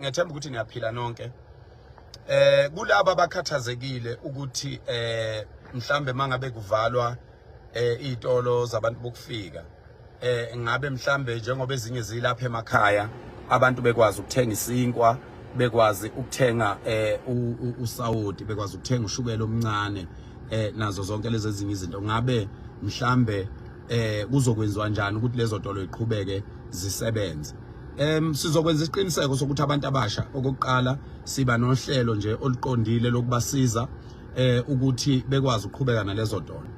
ngethemba ukuthi niyaphila nonke eh kulabo abakhathazekile ukuthi eh mhlambe mangabe kuvalwa eh izitolo zabantu bokufika eh ngabe mhlambe njengoba ezinye zilapha emakhaya abantu bekwazi ukuthenga isinkwa bekwazi ukuthenga eh usawoti bekwazi ukuthenga ushukela omncane eh nazo zonke lezi ezinye izinto ngabe mhlambe eh kuzokwenziwa njani ukuthi lezo tolo iqhubeke zisebenze em sizokwenza isiqiniseko sokuthi abantu abasha okokuqala siba nohlelo nje oluqondile lokubasiza eh ukuthi bekwazi ukuqhubeka nalezo tolo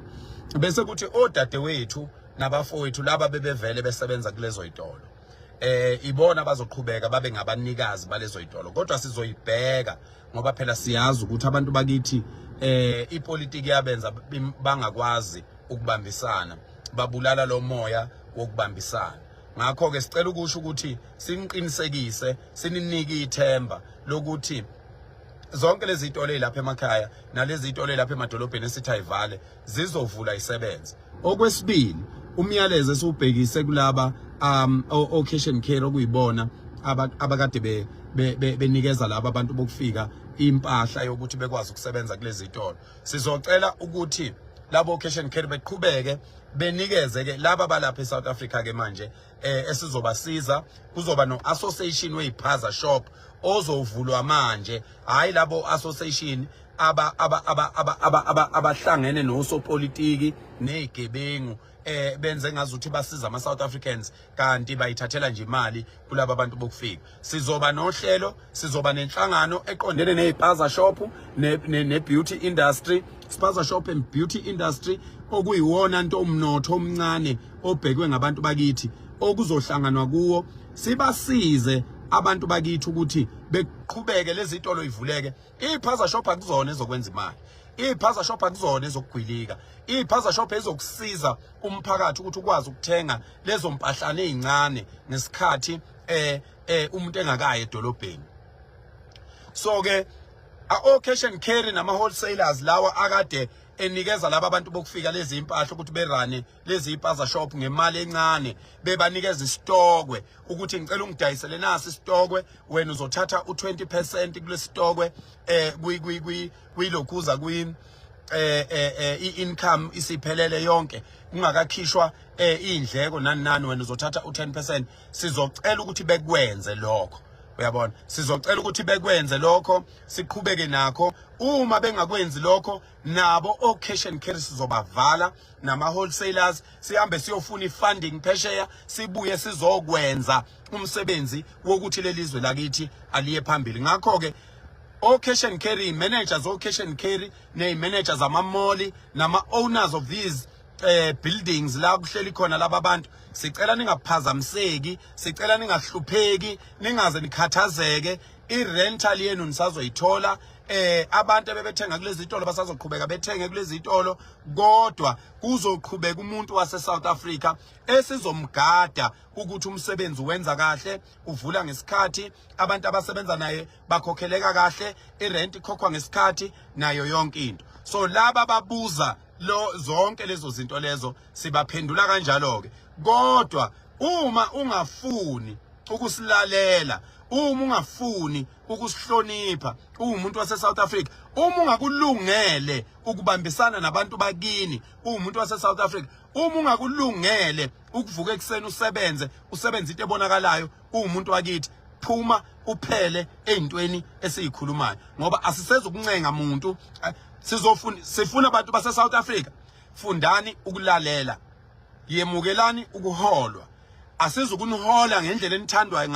bese kuthi odadewethu nabafowethu laba bebevele besebenza kulezo itolo eh ibona bazoqhubeka babe ngabanikazi balezo itolo kodwa sizoyibheka ngoba phela siyazi ukuthi abantu bakithi eh ipolitiki yabenza bangakwazi ukubambisana babulala lo moya wokubambisana ngakho ke sicela ukusho ukuthi siniqinisekise sininike ithemba lokuthi zonke lezi zitolo lapha emakhaya nalezi zitolo lapha emadolobheni esithi ayivale zizovula isebenze okwesibili umyalezo esiwubhekise kulaba um occasion care okuyibona abakade be benikeza laba abantu bokufika impahla yokuthi bekwazi ukusebenza kulezi zitolo sizocela ukuthi labo occasion care beqhubeke benikeze ke laba balapha eSouth Africa ke manje eh, esizobasiza kuzoba no association weyiphaza shop ozovulwa manje hayi labo association aba aba aba aba aba abahlangene nosopolitiki nezigebengu eh benze ngazuthi basiza ama South Africans kanti bayithathela nje imali kulabo abantu bokufika sizoba nohlelo sizoba nenhlangano eqondene nezipaza shop ne, ne, ne beauty industry spaza shop and beauty industry okuyiwona nto umnotho omncane obhekwe ngabantu bakithi okuzohlanganwa kuwo sibasize abantu bakithi ukuthi beqhubeke lezi zitolo ivuleke iphaza shop akuzona ezokwenza imali iphaza shop akuzona ezokugwilika iphaza shop ezokusiza umphakathi ukuthi ukwazi ukuthenga lezo mpahlane ezincane ngesikhathi eh eh umuntu engakaye edolobheni so ke o cash and carry nama wholesalers lawa akade enikeza laba abantu bokufika lezi impahla ukuthi berane lezi ipaza shop ngemali encane bebanikeza isitokwe ukuthi ngicela ungidayisele nasi isitokwe wena uzothatha u20% kulesitokwe eh kwi kwi kwi kwilokhuza kwi eh eh, eh i-income isiphelele yonke kungakakhishwa eh indleko nani nani wena uzothatha u10% sizocela ukuthi bekwenze lokho uyabona sizocela ukuthi bekwenze lokho siqhubeke nakho uma bengakwenzi lokho nabo ocash and carry sizobavala nama wholesalers sihambe siyofuna ifunding phesheya sibuye sizokwenza umsebenzi wokuthi lelizwe lakithi aliye phambili ngakho ke ocash and carry managers ocash and carry ne managers amamoli nama owners of these eh buildings la kuhleli khona laba bantu sicela ningaphazamiseki sicela ningahlupheki ningaze nikhathazeke i-rental yenu nisazoyithola eh abantu abebethenga kulezi zitolo basazoqhubeka bethenge kulezi zitolo kodwa kuzoqhubeka umuntu wase South Africa esizomgada ukuthi umsebenzi wenza kahle uvula ngesikhathi abantu abasebenza naye bakhokheleka kahle irent ikhokhwa ngesikhathi nayo yonke into so laba babuza lo zonke lezo zinto lezo sibaphendula kanjalo ke kodwa uma ungafuni ukusilalela uma ungafuni ukusihlonipha uwumuntu wase South Africa uma ungakulungele ukubambisana nabantu bakini uwumuntu wase South Africa uma ungakulungele ukuvuka ekseni usebenze usebenza into ebonakalayo uwumuntu wakithi phuma uphele ezintweni esizikhulumayo ngoba asisezukuncenga muntu eh, sizofuna sifuna abantu base South Africa fundani ukulalela yemukelani ukuholwa asizukunihola ngendlela enithandwa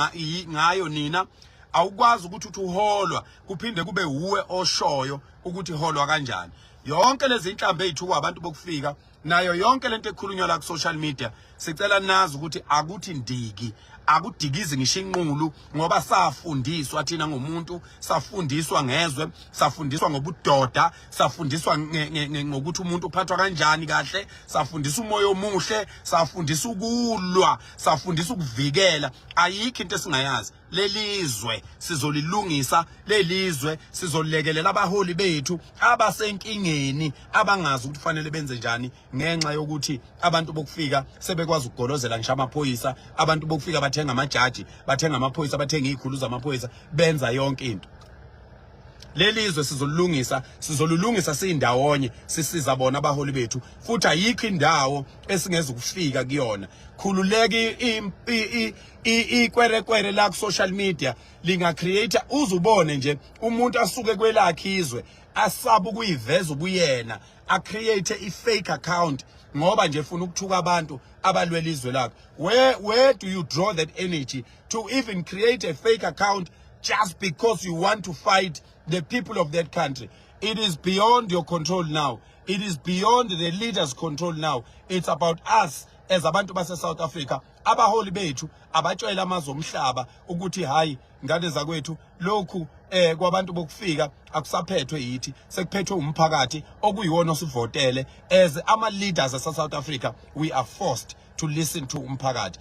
ngayo nina awukwazi ukuthi uthi uholwa kuphinde kube uwe oshoyo ukuthi holwa kanjani yonke lezi inhlambe ezithukwa abantu bokufika nayo yonke lento ekhulunywa la ku social media sicela nazi ukuthi akuthi ndiki akudikizi ngisho inqulu ngoba safundiswa thina ngomuntu safundiswa ngezwe safundiswa ngobudoda safundiswa ngokuthi umuntu uphathwa kanjani kahle safundisa umoya omuhle safundisa ukulwa safundisa ukuvikela ayikho into esingayazi lelizwe sizolilungisa lelizwe sizolekelela abaholi bethu abasenkingeni abangazi ukuthi kufanele benze njani ngenxa yokuthi abantu bokufika sebekwazi ukugolozela ngisho amaphoyisa abantu bokufika bathenga amajaji bathenga amaphoyisa bathenga izikhulu zamaphoyisa benza yonke into lelizwe sizolungisa sizolulungisa siyindawonye sisiza bona abaholi bethu futhi ayikho indawo esingeze ukufika kuyona khululeki ikwerekwere la ku social media linga create uzubone nje umuntu asuke kwelakhe izwe asaba ukuyiveza ubuyena a create i fake account ngoba nje funa ukuthuka abantu abalwela izwe lakho where where do you draw that energy to even create a fake account just because you want to fight the people of that country it is beyond your control now it is beyond the leaders control now it's about us as abantu base South Africa abaholi bethu abatshela amazwe omhlaba ukuthi hayi ngane zakwethu lokhu eh kwabantu bokufika akusaphethwe yithi sekuphethwe umphakathi okuyiwona osivotele as ama leaders asa South Africa we are forced to listen to umphakathi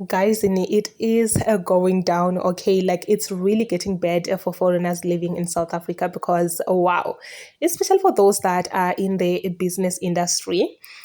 guys it is uh, going down okay like it's really getting bad uh, for foreigners living in south africa because wow especially for those that are in the business industry